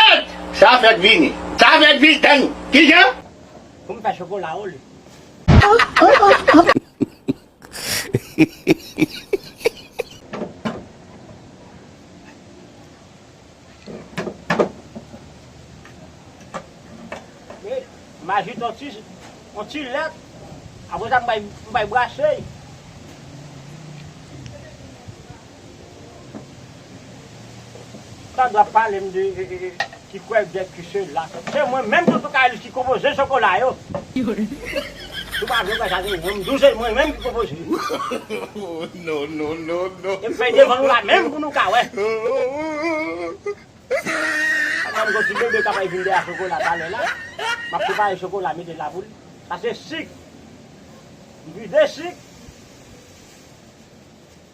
Tet! Sa fèk vini. Sa fèk vini tann kijan. Pou m fè chokola o li. M ajoute on ti on ti lèt apre sa m bay m bay brase. Sandra palem de ti kwèl bèf ki se la se mwen menm Toto Kaylis ki konpoze chokola yo ou pa vle wè sa se mwen mdou se mwen menm ki konpoze yo em fèy devan nou la menm pou nou ka wè pandan mgon ti bebe kap vin dèyè chokola talè la map prepare chokola mete la pou li sa se sik mpuize sik.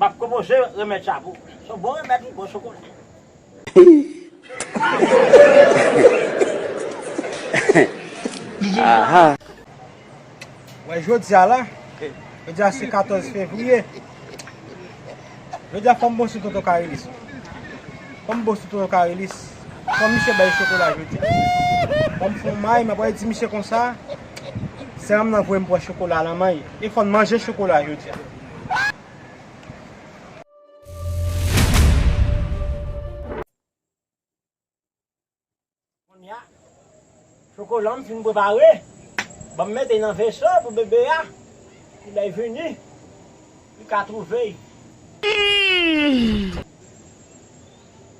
Map propoze remed sa pou ou. Son bon remed wi bon chokola. Wè jodia la Jodia se 14 fevrier Jodia fòm bon sou tonton karelis Fòm bon sou tonton karelis Fòm misye bay chokola jodia Fòm fon may map wè di misye konsa Seranm nan voyem pran chokola nan may E fòn manje chokola jodia. Kounya chokola m fin prepare, banm mete nan veso pou bebe a pou lè l vini li ka twouve l.